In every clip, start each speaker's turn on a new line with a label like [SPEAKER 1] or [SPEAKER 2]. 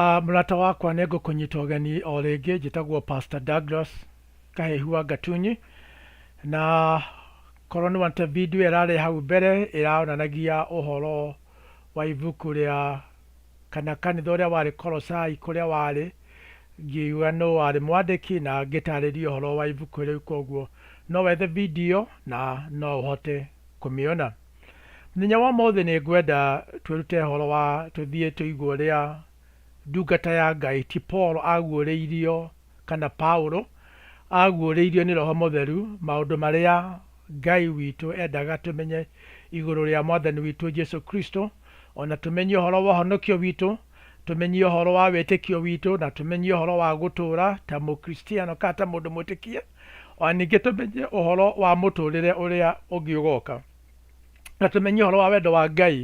[SPEAKER 1] Ah, mũrata wakwa nĩ ngũkũnyita ũgeni o rĩngĩ njĩtagwo Pastor Douglas Kahehu wa Gatunyi na korwo nĩ wonete video ĩrarĩ hau mbere ĩraonanagia ũhoro wa ibuku rĩa kana kanitha ũrĩa warĩ Kolosai kũrĩa warĩ ngiuga nũ warĩ mwandĩki na ngĩtarĩria ũhoro wa ibuku rĩu koguo no wethe video na no ũhote kũmĩona. Mũthenya wa ũmũthĩ nĩ ngwenda twĩrute ũhoro wa tũthiĩ tũigwe ũrĩa ndungata ya Ngai ti Paul aguũrĩirio kana Paulo aguũrĩirio nĩ Roho Mũtheru maũndũ marĩa Ngai witũ endaga tũmenye igũrũ rĩa Mwathani witũ Jesu Kristo, o na tũmenye ũhoro wa ũhonokio witũ, tũmenye ũhoro wa wĩtĩkio witũ, na tũmenye ũhoro wa gũtũũra ta Mũkristiano kana ta mũndũ mwĩtĩkie. O na ningĩ tũmenye ũhoro wa mũtũũrĩre ũrĩa ũngĩ ũgoka, na tũmenye ũhoro wa wendo wa Ngai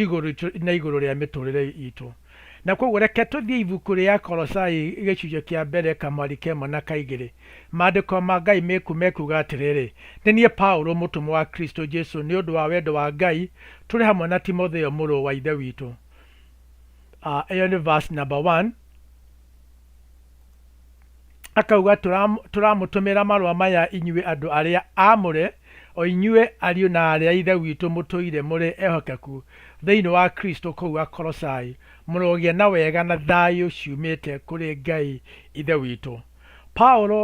[SPEAKER 1] igũrũ itũ na igũrũ rĩa mĩtũũrĩre itũ. Na kwoguo reke tũthiĩ ibuku rĩa Akolosai gĩcunjĩ kĩa mbere kamwari ka ĩmwe na ka igĩrĩ. Maandĩko ma Ngai mekuuga atĩrĩrĩ, Nĩ niĩ Paulo, mũtũmwo wa Kristo Jesu nĩ ũndũ wa wendo wa Ngai, tũrĩ hamwe na Timotheo mũrũ wa Ithe witũ. Ĩyo nĩ verse number one. Akauga, "Tũra- Tũramũtũmĩra marũa maya inyuĩ andũ arĩa aamũre, o inyuĩ ariũ na aarĩ a Ithe witũ mũtũire mũrĩ ehokeku thĩinĩ wa Kristo kũu Akolosai, mũrogĩa na wega na thayũ ciumĩte kũrĩ Ngai Ithe witũ." Paulo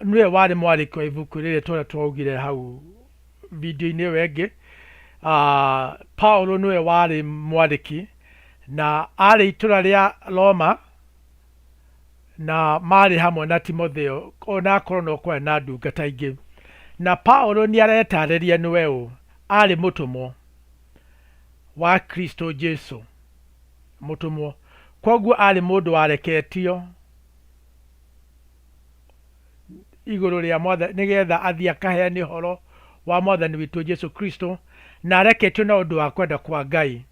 [SPEAKER 1] nĩwe warĩ mwandĩki wa ibuku rĩrĩ ta ũrĩa twaugire hau video-inĩ ĩyo ĩngĩ. Ah, Paulo nĩwe warĩ mwandĩki na arĩ itũra rĩa Roma na maarĩ hamwe na Timotheo, o na akorwo no kwarĩ na ndungata ingĩ. Na Paulo nĩ aretaarĩria nĩwe ũ? Aarĩ mũtũmwo wa Kristo Jesu, mũtũmwo. Kwoguo aarĩ mũndũ wareketio igũrũ rĩa Mwathani, nĩgetha athiĩ akaheane ũhoro wa Mwathani witũ Jesu Kristo, na areketio na ũndũ wa kwenda kwa Ngai.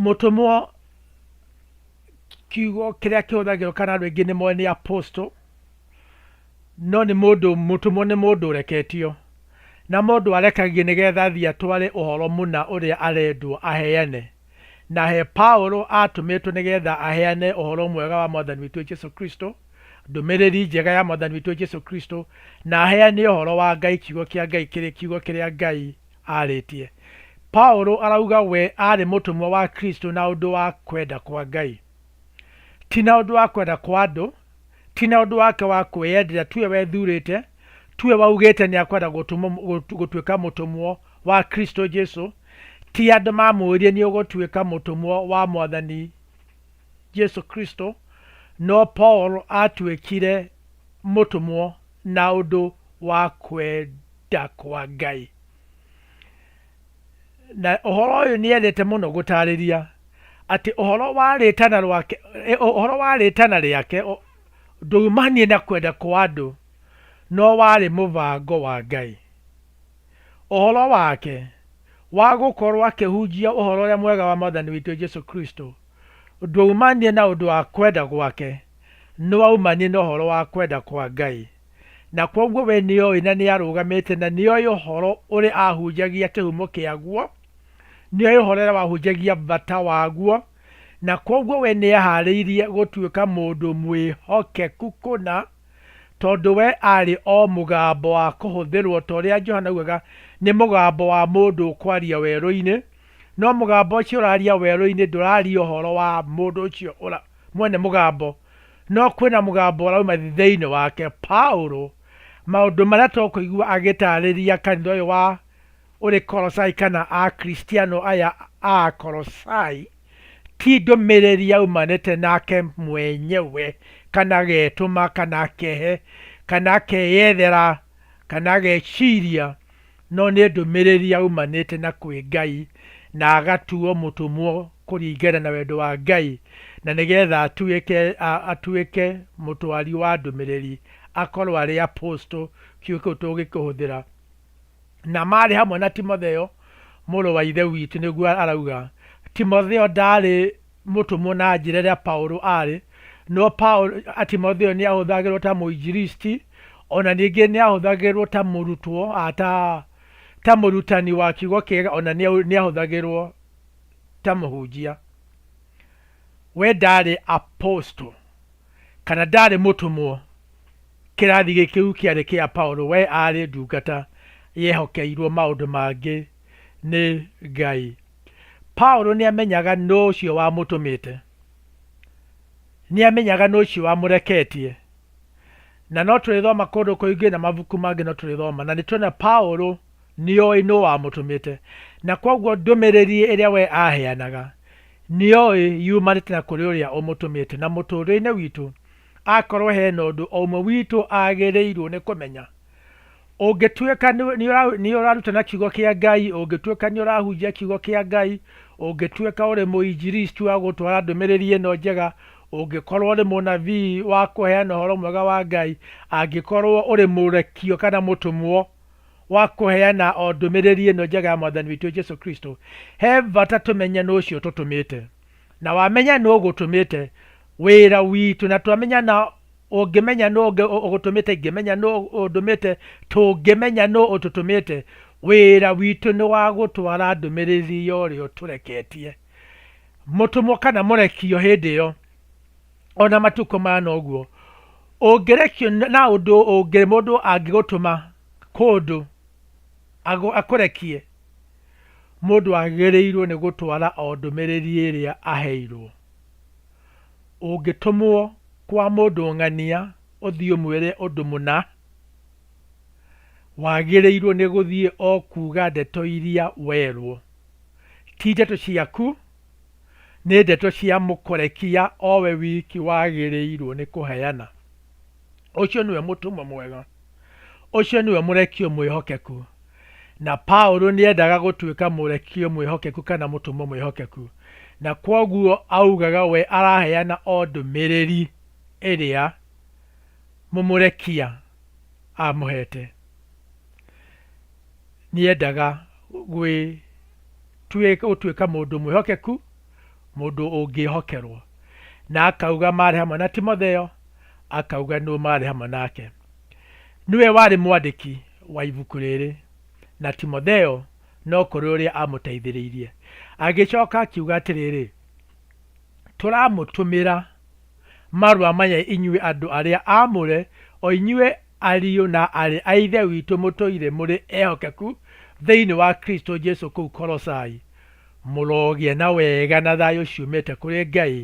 [SPEAKER 1] mũtũmwo kiugo kĩrĩa kĩhũthagĩrwo kana andũ aingĩ nĩ moĩ nĩ apostle no nĩ mũndũ mũtũmwo nĩ mũndũ ũreketio na mũndũ arekagio nĩgetha athiĩ atware ũhoro mũna ũrĩa arendwo aheane na he Paulo atũmĩtwo nĩgetha aheane ũhoro mwega wa mwathani witũ Jesu Kristo ndũmĩrĩri njega ya mwathani witũ Jesu Kristo na aheane ũhoro wa Ngai kiugo kĩa Ngai kĩrĩ kiugo kĩrĩa Ngai arĩtie. Paulo arauga we arĩ mũtũmwo wa Kristo na ũndũ wa kwenda kwa Ngai, ti na ũndũ wa kwenda kwa andũ, ti na ũndũ wake wa kwĩyendera, tiwe wethurĩte, tiwe waugĩte nĩ akwenda gũtuĩka mũtũmwo wa Kristo Jesu, ti andũ mamwĩrire nĩ ũgũtuĩka mũtũmwo wa Mwathani Jesu Kristo, no Paul aatuĩkire mũtũmwo na ũndũ wa kwenda kwa Ngai. Na ũhoro ũyũ nĩ endete mũno gũtaarĩria atĩ ũhoro wa rĩtana rwake, eh, ũhoro wa rĩtana rĩake o- ndwaumanie na kwenda kwa andũ, no warĩ mũbango wa Ngai. Ũhoro wake wa gũkorũo akĩhunjia ũhoro ũrĩa mwega wa Mwathani witũ Jesu Kristo ndwaumanire na ũndũ wa kwenda gwake, no waumanire na ũhoro wa kwenda kwa Ngai. Na kwoguo we nĩ oĩ na nĩ arũgamĩte na nĩ oĩ ũhoro ũrĩa aahunjagia kĩhumo kĩaguo, nĩ oĩ ũhoro ũrĩa wahunjagia bata waguo, na kwoguo we nĩ ehaarĩirie gũtuĩka mũndũ mwĩhokeku kũna. tondũ we aarĩ o mũgambo wa kũhũthĩrũo, ta ũrĩa Johana augaga, nĩ mũgambo wa mũndũ ũkwaria werũ-inĩ, no mũgambo ũcio ũraria werũ-inĩ ndũraria ũhoro wa mũndũ ũcio mwene mũgambo, no kwĩna mũgambo ũrauma thĩinĩ wake. Paulo maũndũ marĩa tũkũigua agĩtaarĩria kanitha ũyũ wa ũrĩ Kolosai kana Akristiano aya a Akolosai, ti ndũmĩrĩri yaumanĩte nake mwenyewe, kana agetũma, kana akehe, kana akeyethera, kana ageciria, no nĩ ndũmĩrĩri yaumanĩte na kwĩ Ngai, na agatuo mũtũmwo kũringana na wendo wa Ngai, na nĩgetha atuĩke atuĩke mũtwari wa ndũmĩrĩri, akorwo arĩ apostle, kiugo kĩu tũngĩkĩhũthĩra. na maarĩ hamwe na Timotheo mũrũ wa Ithe witũ, nĩguo arauga. Timotheo ndaarĩ mũtũmwo na njĩra ĩrĩa Paulo aarĩ, no Paulo, Timotheo nĩ ahũthagĩrwo ta mũinjiristi, o na ningĩ nĩ ahũthagĩrwo ta mũrutwo, a, ta, ta mũrutani wa kiugo kĩega, o na nĩ nĩ ahũthagĩrwo ta mũhunjia. We ndaarĩ apostle. kana ndaarĩ mũtũmwo. Kĩrathi gĩkĩu kĩarĩ kĩa Paulo, we aarĩ ndungata yehokeirwo maũndũ mangĩ nĩ Ngai. Paulo nĩamenyaga nũ ũcio wamũtũmĩte, nĩamenyaga nũ ũcio wamũreketie, na no tũrĩthoma kũndũ kũingĩ na mabuku mangĩ no tũrĩthoma na nĩtuona Paulo nĩoĩ nũ wamũtũmĩte, na kwoguo ndũmĩrĩri ĩrĩa we aheanaga nĩoĩ yumanĩte na kũrĩ ũrĩa ũmũtũmĩte. Na mũtũũrĩre-inĩ witũ, akorũo he na ũndũ o ũmwe witũ agĩrĩirũo nĩ kũmenya, ũngĩtuĩka nĩ ũrarutana Kiugo kĩa Ngai, ũngĩtuĩka nĩ ũrahunjia Kiugo kĩa Ngai, ũngĩtuĩka ũrĩ mũinjilisti wa gũtwara ndũmĩrĩri ĩno njega, ũngĩkorũo ũrĩ mũnabii wa kũheana ũhoro mwega wa Ngai, angĩkorũo ũrĩ mũrekio kana mũtũmwo, wa kũheana o ndũmĩrĩri ĩno njega ya Mwathani witũ Jesu Kristo, he bata tũmenye nũ ũcio ũtũtũmĩte. Na wamenya nũ ũgũtũmĩte, wĩra witũ, na twamenya na ũngĩmenya nũ ũngĩ ũgũtũmĩte, ingĩmenya nũ ũndũmĩte, tũngĩmenya nũ ũtũtũmĩte, wĩra witũ nĩ wa gũtwara ndũmĩrĩri ya ũrĩa ũtũreketie, mũtũmwo kana mũrekio hĩndĩ ĩyo. ona matukũ mana ũguo ũngĩrekio na ũndũ ũngĩ mũndũ angĩgũtũma kũndũ agũ- akũrekie mũndũ agĩrĩirwo nĩ gũtwara o ndũmĩrĩri ĩrĩa aheirwo ũngĩtũmwo kwa mũndũ ng'ania ũthiĩ ũmwĩre ũndũ mũna wagĩrĩirwo nĩ gũthiĩ o kuga ndeto iria werwo ti ndeto ciaku nĩ ndeto cia Mũkorekia o we wiki wagĩrĩirũo nĩ kũheana. Ũcio nĩwe mũtũmwo mwega. Ũcio nĩwe mũrekio mwĩhokeku. Na Paulo nĩ endaga gũtuĩka mũrekio mwĩhokeku kana mũtũmwo mwĩhokeku, na kwoguo augaga we araheana o ndũmĩrĩri ĩrĩa mũmũrekia amũhete. Nĩ eendaga gũtuĩka mũndũ mwĩhokeku, mũndũ ũngĩĩhokerũo. Na akauga maarĩ hamwe na Timotheo, akauga nũũ maarĩ hamwe nake. Nĩwe warĩ mwandĩki wa ibuku rĩrĩ, na Timotheo no kũrĩ ũrĩa aamũteithĩrĩirie. Agĩcoka akiuga atĩrĩrĩ, Tũramũtũmĩra marũa maya inyuĩ andũ arĩa aamũre, o inyuĩ Ariũ na aarĩ a Ithe witũ mũtũire mũrĩ ehokeku thĩinĩ wa Kristo Jesu kũu Kolosai, mũrogĩa na wega na thayũ ciumĩte kũrĩ Ngai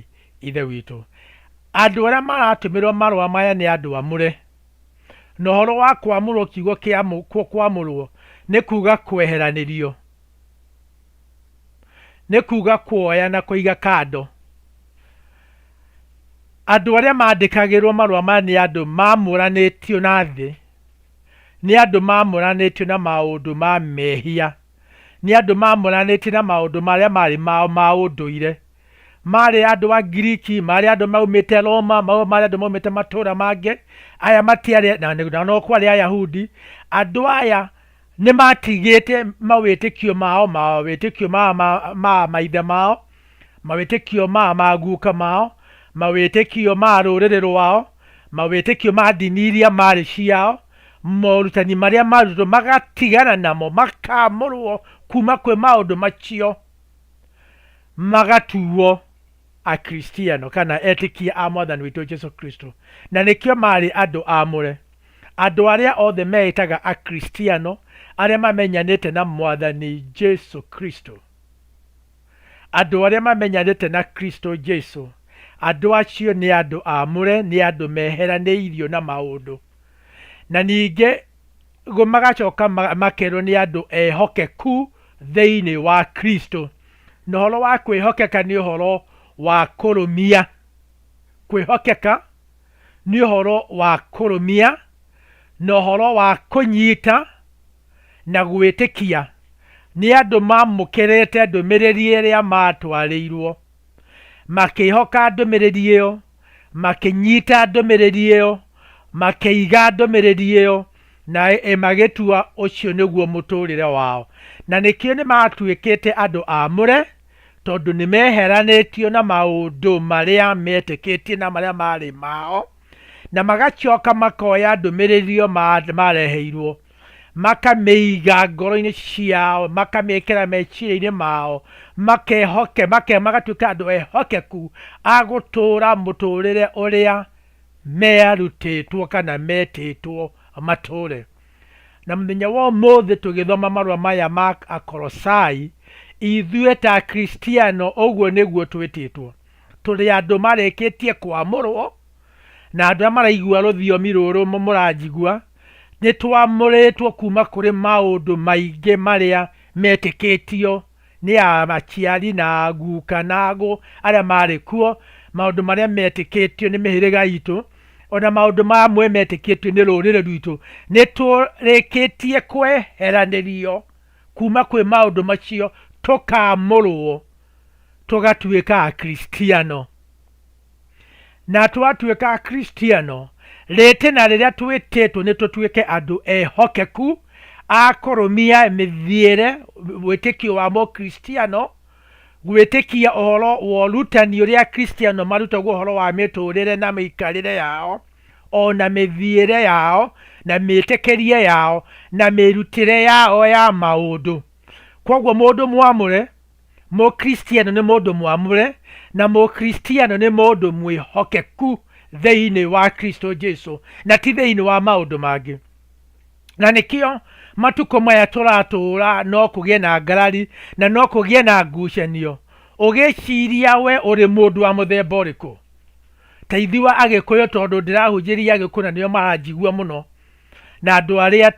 [SPEAKER 1] Ithe witũ. Andũ arĩa maratũmĩrwo marũa maya nĩ andũ amũre, na ũhoro wa kwamũrwo kiugo kĩa kwamũrwo nĩ kuuga kweheranĩrio. nĩ kuuga kuoya na kũiga kando. Andũ arĩa mandĩkagĩrwo marũa maya nĩ andũ mamũranĩtio na thĩ, nĩ andũ mamũranĩtio na maũndũ ma mehia, nĩ andũ mamũranĩtio na maũndũ marĩa marĩ mao ma ũndũire. Marĩ andũ a Ngiriki, marĩ andũ maumĩte Roma, marĩ andũ maumĩte matũũra mangĩ, aya matiarĩ, na no kwarĩ Ayahudi, andũ aya Nĩ maatigĩte mawĩtĩkio mao, mawĩtĩkio ma, ma, ma maithe mao, mawĩtĩkio ma maguka mao, mawĩtĩkio ma rũrĩrĩ rwao, mawĩtĩkio ma ndini iria maarĩ ciao, morutani marĩa maarutwo magatigana namo, makaamũrwo kuma kwĩ maũndũ macio, magatuo Akristiano kana etĩkia a Mwathani witũ Jesu Kristo, na nĩkĩo maarĩ andũ aamũre. Andũ arĩa othe meĩtaga Akristiano arĩa mamenyanĩte na Mwathani Jesu Kristo. Andũ arĩa mamenyanĩte na Kristo Jesu, andũ acio nĩ andũ aamũre, nĩ andũ meheranĩirio na maũndũ. Na ningĩ magacoka makerwo nĩ andũ ehokeku thĩinĩ wa Kristo. Na ũhoro wa kwĩhokeka nĩ ũhoro wa kũrũmia. Kwĩhokeka. nĩ ũhoro wa kũrũmia na ũhoro wa kũnyita na gwĩtĩkia nĩ andũ mamũkĩrĩte ndũmĩrĩri ĩrĩa matwarĩirwo, makĩhoka ndũmĩrĩri ĩyo, makĩnyita ndũmĩrĩri ĩyo, makĩiga ndũmĩrĩri ĩyo, na magĩtua ũcio nĩguo mũtũrĩre wao. Na nĩkĩo nĩ matuĩkĩte andũ amũre. tondũ nĩ meeheranĩtio na maũndũ marĩa meetĩkĩtie na marĩa maarĩ mao, na magacoka makoya ndũmĩrĩri ĩyo maareheirwo, makamĩiga ngoro-inĩ ciao, makamĩĩkĩra meciria-inĩ mao, magatuĩka andũ ehokeku a gũtũũra mũtũũrĩre ũrĩa meerutĩtwo kana meetĩtwo matũũre. Na mũthenya wa ũmũthĩ tũgĩthoma marũa maya ma Akolosai, ithuĩ ta Akristiano ũguo nĩguo twĩtĩtwo. Tũrĩ andũ marĩkĩtie kwamũrwo, na andũ arĩa maraigua rũthiomi rũrũ mũranjigua, nĩ twamũrĩtwo kuma kũrĩ maũndũ maingĩ marĩa metĩkĩtio nĩ a aciari na a guka na agũ arĩa maarĩ kuo, maũndũ marĩa meetĩkĩtio nĩ mĩhĩrĩga itũ, o na maũndũ mamwe meetĩkĩtio nĩ rũrĩrĩ rwitũ, nĩ tũrĩkĩtie kweheranĩrio kuuma kwĩ maũndũ macio, tũkaamũrũo, tũgatuĩka Akristiano. Na twatuĩka Akristiano, rĩtĩna rĩrĩa twĩtĩtwo nĩ tũtuĩke andũ ehokeku a kũrũmia mĩthiĩre, wĩtĩkio wa Mũkristiano, gwĩtĩkia ũhoro wa ũrutani ũrĩa Akristiano marutagwo ũhoro wa mĩtũrĩre na mĩikarĩre yao, o na mĩthiĩre yao, na mĩtĩkĩrie yao, na mĩrutĩre yao ya maũndũ. Kwoguo mũndũ mwamũre. Mũkristiano nĩ mũndũ mwamũre na Mũkristiano nĩ mũndũ mwĩhokeku thĩinĩ wa Kristo Jesu na ti thĩinĩ wa maũndũ mangĩ. Na nĩkĩo matukũ maya tũratũũra no kũgĩe na ngarari na no kũgĩe na ngucanio. Ũgĩciria we ũrĩ mũndũ wa mũthemba ũrĩkũ? Ta ithuĩ Agĩkũyũ tondũ ndĩrahunjĩria Agĩkũyũ na nĩo maranjigua mũno na andũ arĩa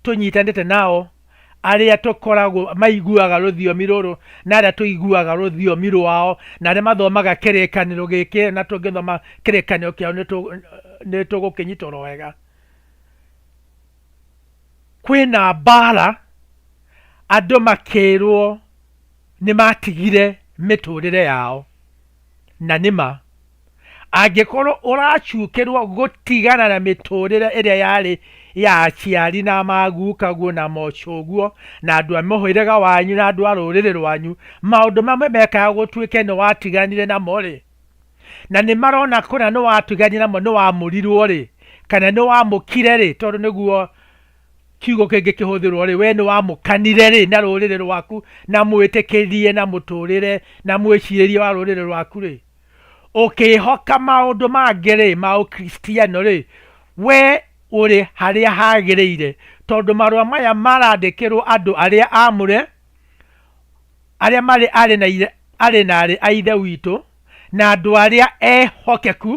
[SPEAKER 1] tũnyitanĩte nao arĩa tũkoragwo maiguaga rũthiomi rũrũ na arĩa tũiguaga rũthiomi rwao na arĩa mathomaga kĩrĩkanĩro gĩkĩ na tũngĩthoma kĩrĩkanĩro kĩao nĩ tũgũkĩnyita oro wega. Kwĩna mbara, andũ makĩrwo nĩ matigire mĩtũrĩre yao, na nĩma. Angĩkorũo ũracukĩrũo gũtigana na mĩtũũrĩre ĩrĩa yarĩ ya aciari na maguukaguo na mocoguo na andũ a mũhĩrĩga wanyu na andũ a rũrĩrĩ rwanyu, maũndũ mamwe mekaga gũtuĩke nĩ watiganire namo-rĩ, na nĩ marona kũna nĩ watiganire namo, nĩ wamũrirũo-rĩ, kana nĩ wamũkire-rĩ, tondũ nĩguo kiugo kĩngĩ kĩhũthĩrũo-rĩ, wee nĩ wamũkanire-rĩ, na rũrĩrĩ rwaku, na mwĩtĩkĩrie, na mũtũũrĩre, na mwĩcirĩrie wa rũrĩrĩ rwaku-rĩ, Ũkĩĩhoka maũndũ mangĩ-rĩ, ma Ũkristiano-rĩ, wee ũrĩ harĩa hagĩrĩire, tondũ marũa maya marandĩkĩrũo andũ arĩa aamũre, arĩa marĩ aarĩ na ithe, aarĩ na aarĩ a Ithe witũ, na andũ arĩa ehokeku,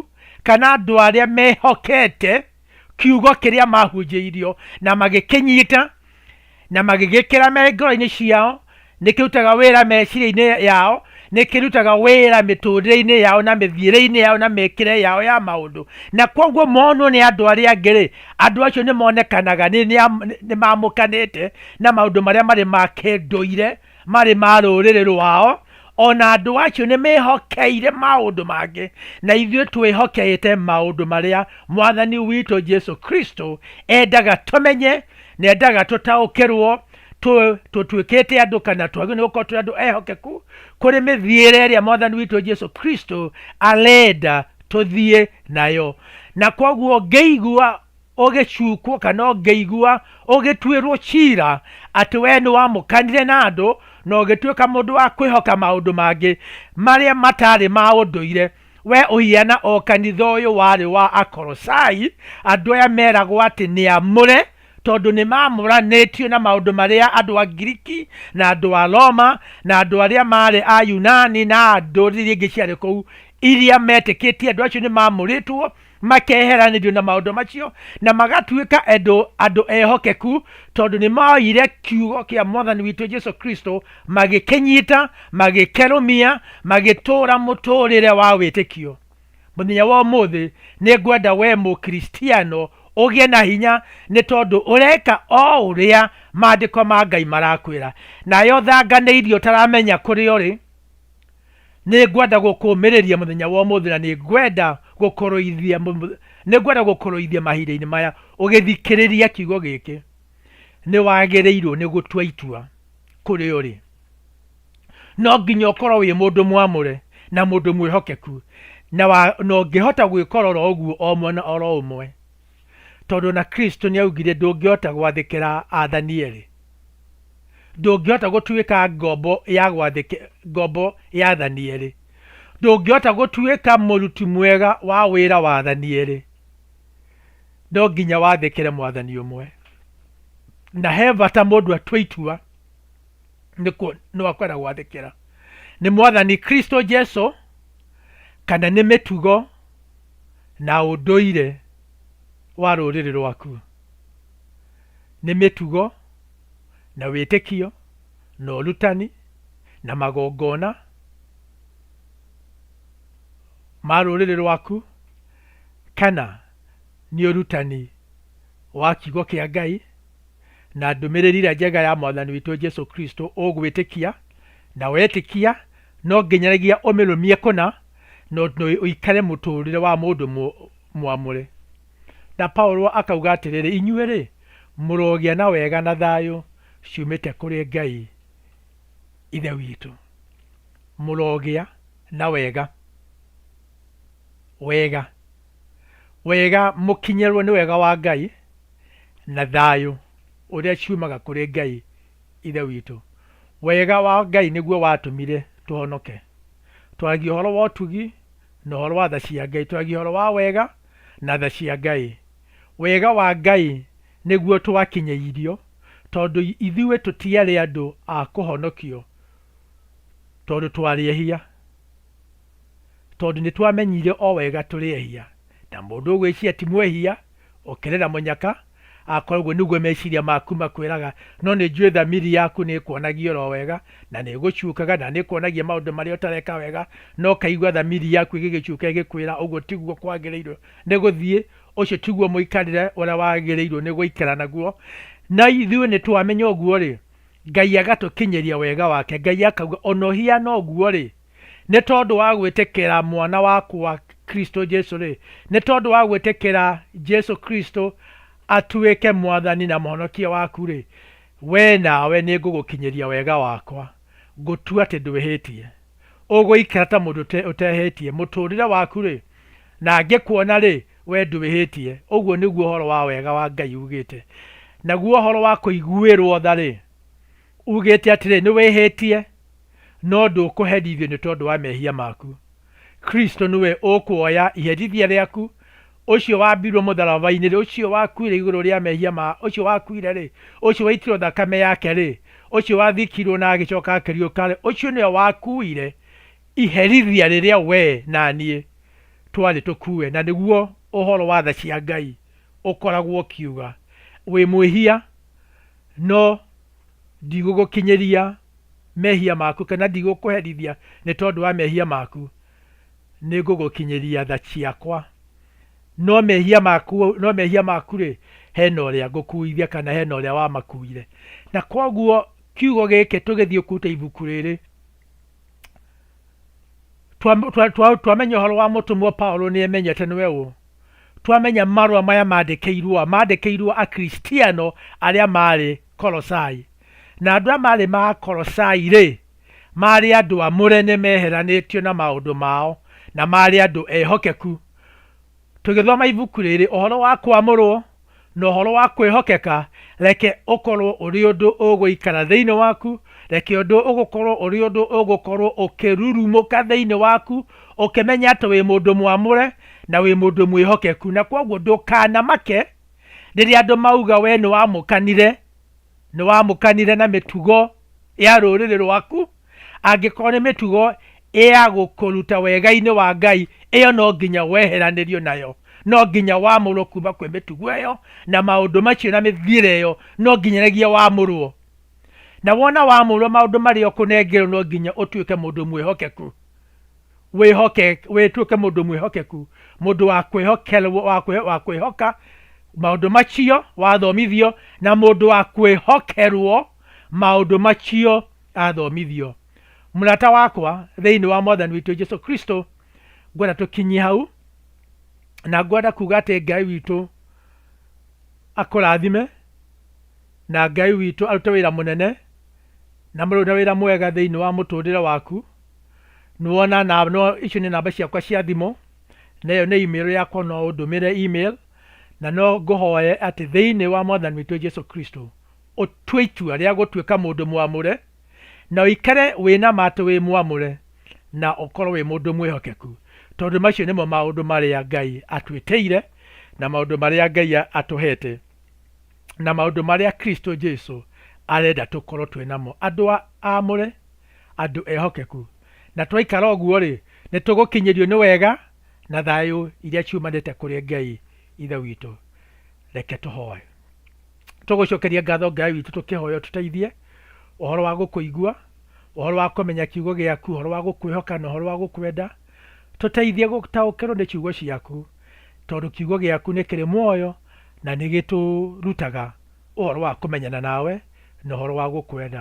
[SPEAKER 1] kana andũ arĩa mehokete. kiugo kĩrĩa mahunjĩirio na magĩkĩnyita na magĩgĩkĩra me ngoro-inĩ ciao nĩ kĩrutaga wĩra meciria-inĩ yao nĩ kĩrutaga wĩra mĩtũrĩre-inĩ yao na mĩthiĩre-inĩ yao na mĩkĩre yao ya maũndũ na kwoguo monwo nĩ andũ arĩa angĩ rĩ andũ acio nĩ monekanaga nĩ nĩ- nĩ mamũkanĩte na maũndũ marĩa marĩ ma kĩndũire marĩ ma rũrĩrĩ rwao, o na andũ acio nĩ mehokeire maũndũ mangĩ, na ithuĩ twĩhokeĩte maũndũ marĩa Mwathani witũ Jesu Kristo endaga tũmenye, na endaga tũtaũkĩrwo, tũ- tũtuĩkĩte andũ kana twagĩrĩirwo nĩ gũkorwo tũrĩ andũ ehokeku kũrĩ mĩthiĩre ĩrĩa Mwathani witũ Jesu Kristo arenda tũthiĩ nayo. Na koguo ngĩigua ũgĩcukwo kana ũngĩigua ũgĩtuĩrwo cira atĩ wee nĩ wamũkanire na andũ na ũgĩtuĩka mũndũ wa kwĩhoka maũndũ mangĩ marĩa matarĩ ma ũndũire. Wee ũhiana o kanitha ũyũ warĩ wa Akolosai, andũ aya meragwo atĩ nĩ amũre tondũ nĩ maamũranĩtio na maũndũ marĩa andũ a Ngiriki na andũ a Roma na andũ arĩa maarĩ a Yunani na ndũrĩrĩ iria ingĩ ciarĩ kũu iria metĩkĩtie. Andũ acio nĩ maamũrĩtwo makeheranĩrio na maũndũ macio na magatuĩka andũ andũ ehokeku tondũ nĩ moire kiugo kĩa mwathani witũ jesu kristo magĩkĩnyita magĩkerũmia magĩtũũra mũtũũrĩre wa wĩtĩkio mũthenya wa ũmũthĩ nĩ ngwenda we mũkristiano ũgĩe na hinya nĩ tondũ ũreka o ũrĩa maandĩko ma ngai marakwĩra nayo thanga nĩ irio ũtaramenya kũrĩa ũrĩ Nĩ ngwenda gũkũũmĩrĩria mũthenya wa ũmũthĩ, na nĩ ngwenda gũkũrũithia, nĩ ngwenda gũkũrũithia mahinda-inĩ maya ũgĩthikĩrĩria kiugo gĩkĩ. Nĩ wagĩrĩirwo nĩ gũtua itua kũrĩ ũrĩ. No nginya ũkorwo wĩ mũndũ mwamũre na mũndũ mwĩhokeku, na ũngĩhota gwĩkorora ũguo o mwena oro ũmwe, Tondũ o na Kristo nĩ aaugire ndũngĩhota gwathĩkĩra aathani erĩ. Ndũngĩhota gũtuĩka ngombo ya gwathĩkĩ, ngombo ya aathani erĩ. Ndũngĩhota gũtuĩka mũruti mwega wa wĩra wa aathani erĩ. No nginya wathĩkĩre mwathani ũmwe. Na he bata mũndũ atua itua nĩ kũ, nũ akwenda gwathĩkĩra. Nĩ mwathani Kristo Jesu kana nĩ mĩtugo na ũndũire wa rũrĩrĩ rwaku, nĩ mĩtugo, na wĩtĩkio, na ũrutani, na magongona ma rũrĩrĩ rwaku, kana nĩ ũrutani wa kiugo kĩa Ngai, na ndũmĩrĩri ĩrĩa njega ya Mwathani witũ Jesu Kristo ũgwĩtĩkia, na wetĩkia no nginyanagia ũmĩrũmie kũna. no ũikare mũtũrĩre wa mũndũ mwamũre. Na Paulo akauga atĩrĩrĩ, inyuĩ-rĩ, mũrogĩa na wega na thayũ ciumĩte kũrĩ Ngai Ithe witũ. Mũrogĩa na wega, wega, wega, mũkinyĩrwo nĩ wega wa Ngai na thayũ ũrĩa ciumaga kũrĩ Ngai Ithe witũ. Wega wa Ngai nĩguo watũmire tũhonoke. Twaragia ũhoro wa ũtugi na ũhoro wa tha cia Ngai. Twaragia ũhoro wa wega na tha cia Ngai. Wega wa Ngai nĩguo twakinyĩirio tondũ ithuĩ tũtiarĩ andũ a kũhonokio tondũ twarĩ ehia. Tondũ nĩtwamenyire o wega tũrĩ ehia. Na mũndũ ũgwĩciria ti mwehia Ũkĩrĩra mũnyaka, akorwo ũguo nĩguo meciria maku makwĩraga, no nĩ njũĩ thamiri yaku nĩ ĩkuonagia oro wega, na nĩ ĩgũcukaga, na nĩ ĩkuonagia maũndũ marĩa ũtareka wega, no ũkaigua thamiri yaku ĩgĩgĩcuka ĩgĩkwĩra ũguo tiguo kwagĩrĩirwo nĩ gũthiĩ, ũcio tiguo mũikarĩre ũrĩa wagĩrĩirwo nĩ gũikara naguo. Na ithuĩ nĩ twamenya ũguo-rĩ, Ngai agatũkinyĩria wega wake, Ngai akauga, ona ũhiana ũguo-rĩ, Nĩ tondũ wa gwĩtĩkĩra mwana wakwa Kristo Jesu-rĩ, nĩ tondũ wa gwĩtĩkĩra Jesu Kristo atuĩke mwathani na mũhonokia waku-rĩ, wee nawe nĩngũgũkinyĩria wega wakwa, ngũtue atĩ ndwĩhĩtie. Ũgũikara ta mũndũ ũtehĩtie mũtũrĩre waku-rĩ, na ngĩkuona-rĩ, wee ndwĩhĩtie. Ũguo nĩguo ũhoro wa wega wa Ngai ugĩte. Naguo ũhoro wa kũiguĩrwo tha-rĩ, Uugĩĩte atĩrĩ, Nĩwĩhĩĩtie, no ndũkũherithio nĩ tondũ wa meehia maaku. Kristũ nĩwe ũkũoya iherithia rĩaku. Ũcio waambirwo mũtharaba-inĩ-rĩ, ũcio wakuire igũrũ rĩa meehia ma, ũcio wakuire-rĩ, ũcio waitirwo thakame yake-rĩ, ũcio wathikirwo na agĩcooka akĩriũka-rĩ, ũcio nĩwe wakuire iherithia rĩrĩa wee na niĩ twarĩ tũkuue, na nĩguo ũhoro wa tha cia Ngai ũkoragwo ũkiuga, Wĩ mwĩhia, no ndigũgũkinyĩria mehia maku, kana ndigũkũherithia nĩ tondũ wa mehia maku, nĩ ngũgũkinyĩria tha ciakwa. No mehia maku, no mehia maku-rĩ, hena ũrĩa ngũkuithia kana hena ũrĩa wamakuire. Na koguo kiugo gĩkĩ tũgĩthiĩ kũruta ibuku rĩrĩ, twamenya ũhoro wa mũtũmwo Paulo nĩemenyete nĩwe ũũ, twamenya marũa maya maandĩkĩirũo maandĩkĩirũo Akristiano arĩa maarĩ Kolosai. Na andũ arĩa maarĩ ma Kolosai-rĩ, maarĩ andũ amũre nĩ meheranĩtio na maũndũ mao, na maarĩ andũ ehokeku. Tũgĩthoma ibuku rĩrĩ, Ũhoro wa Kwamũrũo, Na ũhoro wa kwĩhokeka, reke ũkorũo ũrĩ ũndũ ũgũikara thĩinĩ waku, reke ũndũ ũgũkorũo ũrĩ ũndũ ũgũkorũo ũkĩrurumũka thĩinĩ waku, ũkĩmenya atĩ wĩ mũndũ mwamũre na wĩ mũndũ mwĩhokeku. Na kwoguo ndũkanamake rĩrĩa andũ mauga wee nĩ wamũkanire, nĩ wamũkanire na mĩtugo ya rũrĩrĩ rwaku. Angĩkorwo nĩ mĩtugo ya gũkũruta wega-inĩ wa Ngai, ĩyo no nginya weheranĩrio nayo. No nginya wamũrwo kuma kwĩ mĩtugo ĩyo, na maũndũ macio na mĩthiĩre ĩyo, no nginyanĩgia wamũrwo. Na wona wamũrwo maũndũ marĩa ũkũnengerwo no nginya ũtuĩke mũndũ mwĩhokeku. Wĩhoke, wĩtuĩke mũndũ mwĩhokeku, mũndũ wa kwĩhokerwo, wa kwĩ, wa kwĩhoka maũndũ macio wathomithio, na mũndũ wa kwĩhokerwo maũndũ macio athomithio. Mũrata wakwa thĩinĩ wa Mwathani witũ Jesu Kristo, ngwenda tũkinyie hau, na ngwenda kuga atĩ Ngai witũ akũrathime, na Ngai witũ arute wĩra mũnene, na mũrute wĩra mwega thĩinĩ wa mũtũrĩre waku. Nĩwona na no icio nĩ namba ciakwa cia thimũ, na ĩyo nĩ email yakwa no ũndũmĩre email, na no ngũhoye atĩ thĩinĩ wa Mwathani witũ Jesu Kristo, ũtue itua rĩa gũtuĩka mũndũ mwamũre, na ũikare wĩ na ma atĩ wĩ mwamũre, na ũkorũo wĩ mũndũ mwĩhokeku, tondũ macio nĩmo maũndũ marĩa Ngai atwĩkĩire, na maũndũ marĩa Ngai atũheete, na maũndũ marĩa Kristo Jesu arenda tũkorũo twĩ namo, andũ aamũre, andũ ehokeku. Na twaikara ũguo-rĩ, nĩ tũgũkinyĩrio nĩ wega na thayũ iria ciumanĩte kũrĩ Ngai Ithe witũ. Reke tũhoe. Tũgũcokeria ngatho Ngai witũ tũkĩhoya ũtũteithie ũhoro wa gũkũigua, ũhoro wa kũmenya kiugo gĩaku, ũhoro wa gũkwĩhoka na ũhoro wa gũkwenda. Tũteithie gũtaũkĩrwo nĩ ciugo ciaku tondũ kiugo gĩaku nĩ kĩrĩ muoyo na nĩ gĩtũrutaga ũhoro wa kũmenyana nawe na ũhoro wa gũkwenda.